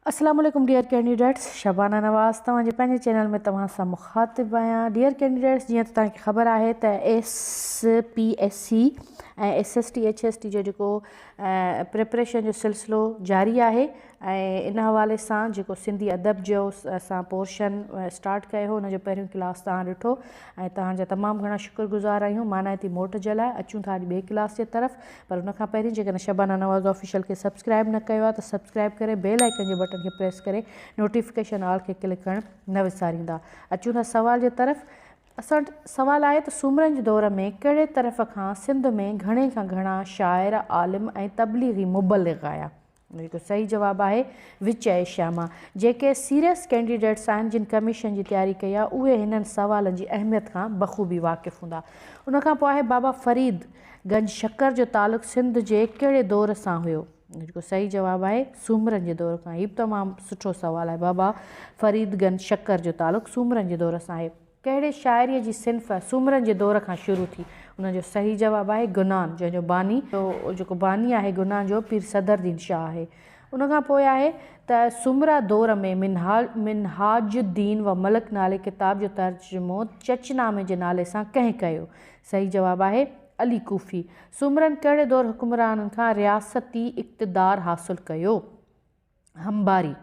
السلام عليڪم dear candidates Shabana Nawaz توهان جي پنهنجي چينل ۾ توهان سان مخاطب آهيان ڊيئر ڪينڊيڊيٽس جيئن ته توهان کي خبر آهي ته S P S C ۽ S S T H S T جو جيڪو پريپريشن جو سلسلو جاري آهي ۽ ان حوالي سان جيڪو سنڌي ادب جو اسان پورشن اسٽارٽ ڪيو هو ان جو پهريون ڪلاس توهان ڏٺو ۽ توهان جا تمام گهڻا شڪر گذار آهيون مانائتي موٽ جي لاء اچون ٿا اڄ ٻئي ڪلاس جي طرف پر ان کان پهرين جيڪڏهن شبانه نواز آفيشل کي سبسڪرائب نه ڪيو آهي ته سبسڪرائب ڪري بيل آئيڪن جي بٽن کي پريس ڪري نوٽيفڪيشن آل کي ڪلڪ ڪرڻ نه وساريندا اچون ٿا سوال جي طرف اسان وٽ سوال آهي ته سومرن جي دور ۾ ڪهڙي طرف کان سنڌ ۾ گهڻي کان گهڻا شاعر عالم ۽ تبليغي مبلغ آيا هڪ صحيح جواب آهي وچ ايشيا مان جيڪي سيريس ڪينڊيڊيٽس آهن جن ڪميشن جي تياري ڪئي آهي اهي هنن سوالن جي اهميت کان بخوبي واقف هوندا ان کان پوء آهي بابا فريد گنج شڪر جو تعلق سنڌ جي ڪهڙي دور سان هيو جيڪو صحيح جواب آهي سومرن جي دور کان هي به تمام سٺو سوال آهي بابا فريد گنج شڪر جو تعلق سومرن جي دور سان آهي ڪهڙي شاعريء جي صنف سومرن جي دور کان شروع ٿي؟ ان جو صحيح جواب آهي گنان، جنهن جو باني، جيڪو باني آهي گنان جو، پير صدرالدين شاهه آهي. ان کان پوء آهي ته سومرا دور ۾ منهاج الدين و ملڪ نالي ڪتاب جو ترجمو چچ نامي جي نالي سان ڪنهن ڪيو؟ صحيح جواب آهي علي ڪوفي. سومرن ڪهڙي دور حڪمرانن کان رياستي اقتدار حاصل ڪيو؟ همڀاري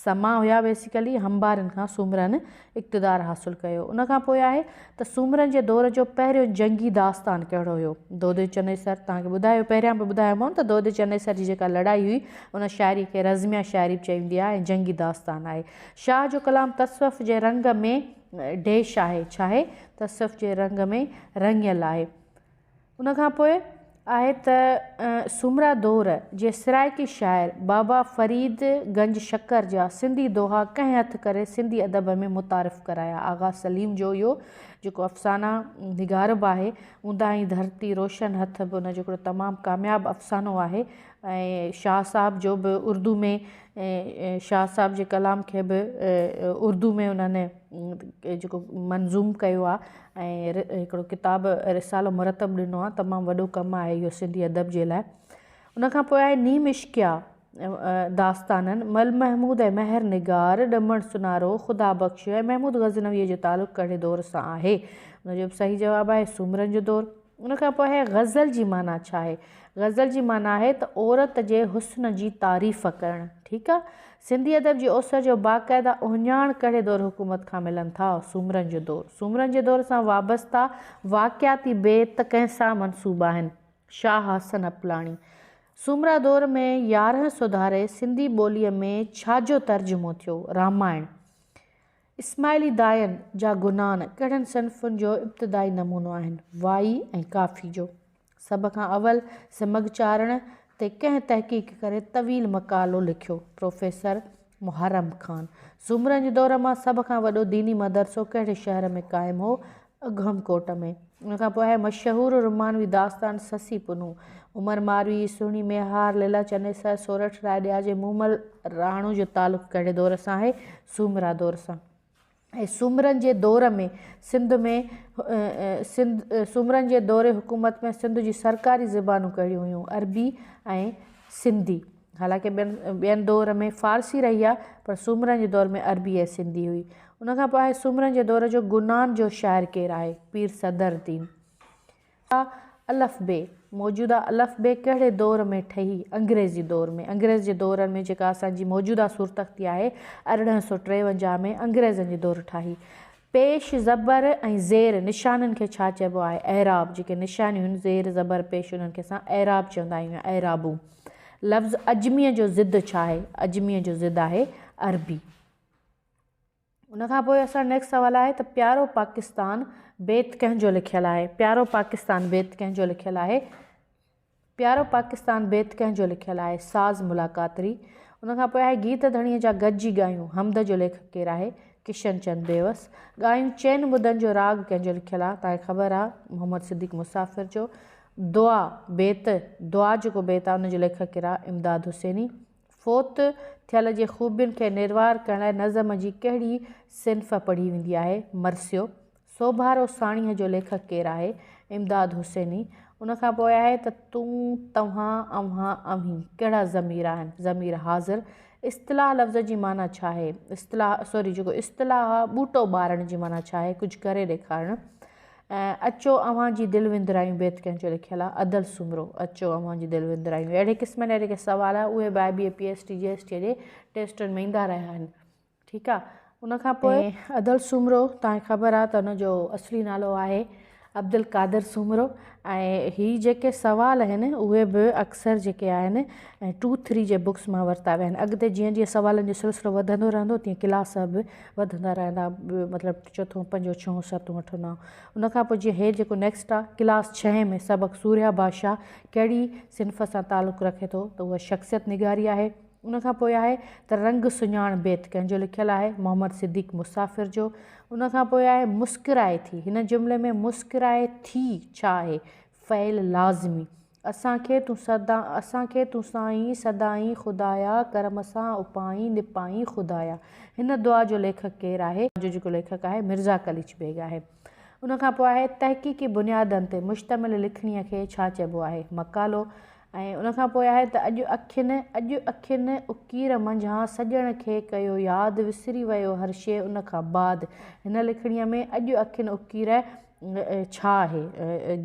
سما هيا بيسيڪلي همڀارين کان سومرن اقتدار حاصل ڪيو ان کان پوء آهي ته سومرن جي دور جو پهريون جنگي داستان ڪهڙو هيو دودي چنيسر تان کي ٻڌايو پهريان به ٻڌايو مون ته دودي چنيسر جي جيڪا لڙائي هئي ان شاعري کي رزميا شاعري به چئي ويندي آهي ۽ جنگي داستان آهي شاهه جو ڪلام تصوف جي رنگ ۾ ڊيش آهي ڇاهي تصوف جي رنگ ۾ رڱيل آهي ان کان پوء آهي ته سومرا دور جي سرائيڪي شاعر بابا فريد گنج شڪر جا سنڌي دوها ڪنهن هٿ ڪري سنڌي ادب ۾ متعارف ڪرايا. آغا سليم جو اهو جيڪو افسانه نگار به آهي، اونداهي ڌرتي روشن هٿ به ان جو هڪڙو تمام ڪامياب افسانو آهي ۽ شاهه صاحب جو به اردو ۾ شاهه صاحب جي ڪلام کي به اردو ۾ انهن جيڪو منظوم ڪيو آ ۽ هڪڙو ڪتاب رسالو مرتب ڏنو آ تمام وڏو ڪم آهي اهو سنڌي ادب جي لاء ان کان پوء آهي نيم عشقيا داستانن مل محمود ۽ مهر نگار ڏمڻ سونارو خدا بخش ۽ محمود غزنويء جو تعلق ڪهڙي دور سان آهي ان جو به صحيح جواب آهي سومرن جو دور ان کان پوء آهي غزل جي معنيٰ ڇا آهي؟ غزل جي معنيٰ آهي ته عورت جي حسن جي تعريف ڪرڻ. ٺيڪ آ. سنڌي ادب جي اوسر جو باقاعده اهڃاڻ ڪهڙي دور حڪومت کان ملن ٿا؟ سومرن جو دور. سومرن جي دور سان وابسته واقعاتي بيت ڪنهن سان منسوب آهن؟ شاهه حسن اپلاڻي. سومرا دور ۾ يارهن سوڌاري سنڌي ٻوليء ۾ ڇا جو ترجمو ٿيو؟ رامائڻ. اسماعيلي داين جا گنان ڪهڙن صنفن جو ابتدائي نمونو آهن؟ وائي ۽ ڪافي جو. سڀ کان اول سمگهه چارڻ تي ڪنهن تحقيق ڪري طويل مقالو لکيو؟ پروفيسر محرم خان. سومرن جي دور مان سڀ کان وڏو ديني مدرسو ڪهڙي شهر ۾ قائم هو؟ اگهم ڪوٽ ۾. ان کان پوء آهي مشهور رومانوي داستان سسي پنهون. عمر ماروي، سهڻي ميهار، ليلا چنيسر، سورٺ راء ڏياجي، مومل راڻو جو تعلق ڪهڙي دور سان آهي؟ سومرا دور سان. ۽ سومرن جي دور ۾ سنڌ ۾ سومرن جي دور حڪومت ۾ سنڌ جون سرڪاري زبانون ڪهڙيون هيون؟ عربي ۽ سنڌي. حالانڪ ٻين ٻين دؤر ۾ فارسي رهي آهي پر سومرن جي دور ۾ عربي ۽ سنڌي هئي. ان کان پوء آهي سومرن جي دور جو گنان جو شاعر ڪير آهي؟ پير صدر الدين. ٽيون آهي الف بي، موجوده الف بي ڪهڙي دؤر ۾ ٺهي؟ انگريزي دور ۾، انگريز جي دور ۾ جيڪا اسان جي موجوده سورتخطي آهي ارڙهن سؤ ٽيونجاهه ۾ انگريزن جي دور ٺاهي پيش زبر ۽ زير نشانن کي ڇا چئبو آهي؟ اعراب، جيڪي نشانيون آهن، زير، زبر، پيش، انهن کي اسان اعراب چوندا آهيون يا اعرابون. لفظ عجميء جو ضد ڇا آهي؟ عجميء جو ضد آهي عربي. ان کان پوء اسان نيڪسٽ سوال آهي ته پيارو پاڪستان بيت ڪنهن جو لکيل آهي؟ پيارو پاڪستان بيت ڪنهن جو لکيل آهي؟ پيارو پاڪستان بيت ڪنهن جو لکيل آهي؟ ساز ملاقات ري. ان کان پوء آهي گيت ڌڻيء جا گڏجي ڳايون. حمد جو ليکڪ ڪير آهي؟ ڪشن چند بيوس. ڳايون چئن مدن جو راڳ ڪنهن جو لکيل آهي؟ توهان کي خبر آهي؟ محمد صديق مسافر جو. دعا، بيت، دعا جيڪو بيت آهي ان جو ليکڪ ڪير آهي؟ امداد حسيني. فوت ٿيل جي خوبين کي نروار ڪرڻ لاء نظم جي ڪهڙي صنف پڙهي ويندي آهي؟ مرثيو. سوڀارو ساڻيهه جو ليکڪ ڪير آهي؟ امداد حسيني ان کان پوء آهي ته تون، توهان، اوهان، اوهين ڪهڙا ضمير آهن؟ ضمير حاضر اصطلاح لفظ جي معنيٰ ڇا آهي؟ اصطلاح سوري جيڪو اصطلاح آهي ٻوٽو ٻارڻ جي معنيٰ ڇا آهي؟ ڪجهه ڪري ڏيکارڻ ۽ اچو اوهان جي دل وندرايون بيت ڪنهن جو لکيل آهي؟ ادل سومرو اچو اوهان جي دل وندرايون اهڙي قسم جا جيڪي سوال آهن اهي به I B A P S T G S T جي ٽيسٽن ۾ ايندا رهيا آهن. ٺيڪ آ ان کان پوء. ادل سومرو توهان کي خبر آ ته ان جو اصلي نالو آهي عبدالقادر سومرو ۽ هي جيڪي سوال اهن اهي به اڪثر جيڪي آهن ٽو ٿري جي بڪس مان ورتا ويا آهن اڳتي جيئن جيئن سوالن جو سلسلو وڌندو رهندو تيئن ڪلاس به وڌندا رهندا مطلب چوٿون پنجون ڇهون ستون اٺون نائون ان کان پوء جيئن هي جيڪو نيڪسٽ آ ڪلاس ڇهين ۾ سبق سوريا بادشاهه ڪهڙي صنف سان تعلق رکي ٿو ته اها شخصيت نگاري آهي ان کان پوء آهي ته رنگ سڃاڻ بيت ڪنهن جو لکيل آهي؟ محمد صديق مسافر جو. ان کان پوء آهي مسڪرائي ٿي. هن جملي ۾ مسڪرائي ٿي ڇا آهي؟ فعل لازمي. اسان کي تون سدا اسان کي تون سائين سڏائين خدايا ڪرم سان اپائين نپائين خدايا. هن دعا جو ليکڪ ڪير آهي؟ جو جيڪو ليکڪ آهي مرزا قليچ بيگ آهي. ان کان پوء آهي تحقيقي بنيادن تي مشتمل لکڻيء کي ڇا چئبو آهي؟ مقالو. ۽ ان کان پوء آهي ته اڄ اکين، اڄ اکين اڪير منجهان سڄڻ کي ڪيو ياد، وسري ويو هر شيء ان کان بعد. هن لکڻيء ۾ اڄ اکين اڪير ڇا آهي؟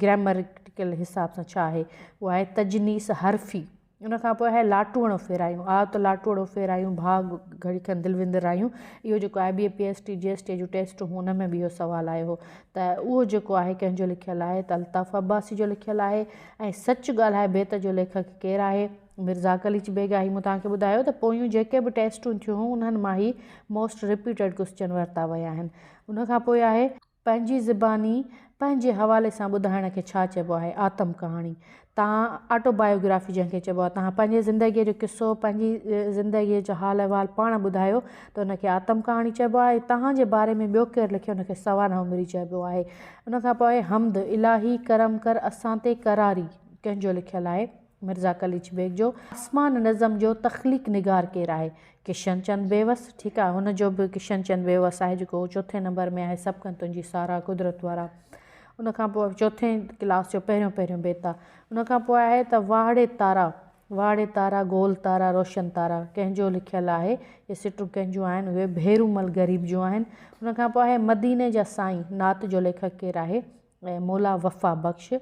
گرامريڪل حساب سان ڇا آهي؟ اهو آهي تجنيس حرفي. ان کان پوء آهي لاٽوڻو ڦيرايون، آء ته لاٽوڻو ڦيرايون، ڀاء گهڙي کن دل وندرايون. اهو جيڪو I B A, P S T, G S T جون ٽيسٽون هيون ان ۾ به اهو سوال آيو هو ته اهو جيڪو آهي ڪنهن جو لکيل آهي ته الطاف عباسي جو لکيل آهي. ۽ سچ ڳالهائي بيت جو ليکڪ ڪير آهي؟ مرزا قليچ بيگ آهي مون توهان کي ٻڌايو ته پويون جيڪي به ٽيسٽون ٿيون هيون انهن مان هي موسٽ رپيٽيڊ ڪوسچن ورتا ويا آهن ان کان پوء آهي پنهنجي زباني پنهنجي حوالي سان ٻڌائڻ کي ڇا چئبو آهي آتم ڪهاڻي تان آٽو بايوگرافي جنهن کي چئبو آهي توهان پنهنجي زندگي جو قصو پنهنجي زندگي جو حال احوال پاڻ ٻڌايو ته ان کي آتم ڪهاڻي چئبو آهي توهان جي باري ۾ ٻيو ڪير لکي ان کي سوانح عمري چئبو آهي ان کان پوء حمد، الاهي ڪرم ڪر اسان تي قراري، ڪنهن جو لکيل آهي؟ مرزا قليچ بيگ جو آسمان نظم جو تخليق نگار ڪير آهي؟ ڪشن چند بيوس، ٺيڪ آهي هن جو به ڪشن چند بيوس آهي جيڪو چوٿين نمبر ۾ آهي سڀ ڪن تنهنجي ساراهه قدرت وارا ان کان پوء چوٿين ڪلاس جو پهريون پهريون بيت آهي ان کان پوء آهي ته واهڙي تارا، واڙي تارا، گول تارا، روشن تارا ڪنهن جو لکيل آهي؟ اهي سٽون ڪنهن جون آهن؟ اهي ڀيرومل غريب جون آهن. ان کان پوء آهي مديني جا سائين نعت جو ليکڪ ڪير آهي؟ اهي مولا وفا بخش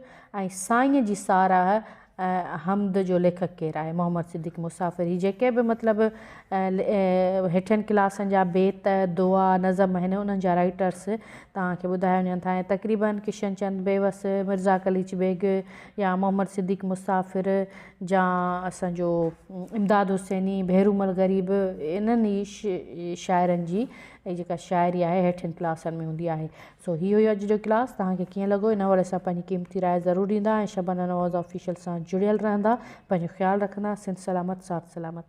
۽ سائينء جي ساراهه ۽ حمد جو ليکڪ ڪير آهي؟ محمد صديق مسافر هي جيڪي به مطلب هيٺين ڪلاسن جا بيت، دعا، نظم آهن انهن جا رائيٽرس توهان کي ٻڌايا وڃن ٿا ۽ تقريبن ڪشن چند بيوس، مرزا قليچ بيگ، يا محمد صديق مسافر جا اسان جو امداد حسيني ڀيرومل غريب انهن ئي شاعرن جي جيڪا شاعري آهي هيٺين ڪلاسن ۾ هوندي آهي سو هي هيو اڄ جو ڪلاس توهان کي ڪيئن لڳو ان حوالي سان پنهنجي قيمتي راء ضرور ڏيندا ۽ شبانه نواز آفيشل سان جڙيل رهندا پنهنجو خيال رکندا سنڌ سلامت ساٿ سلامت.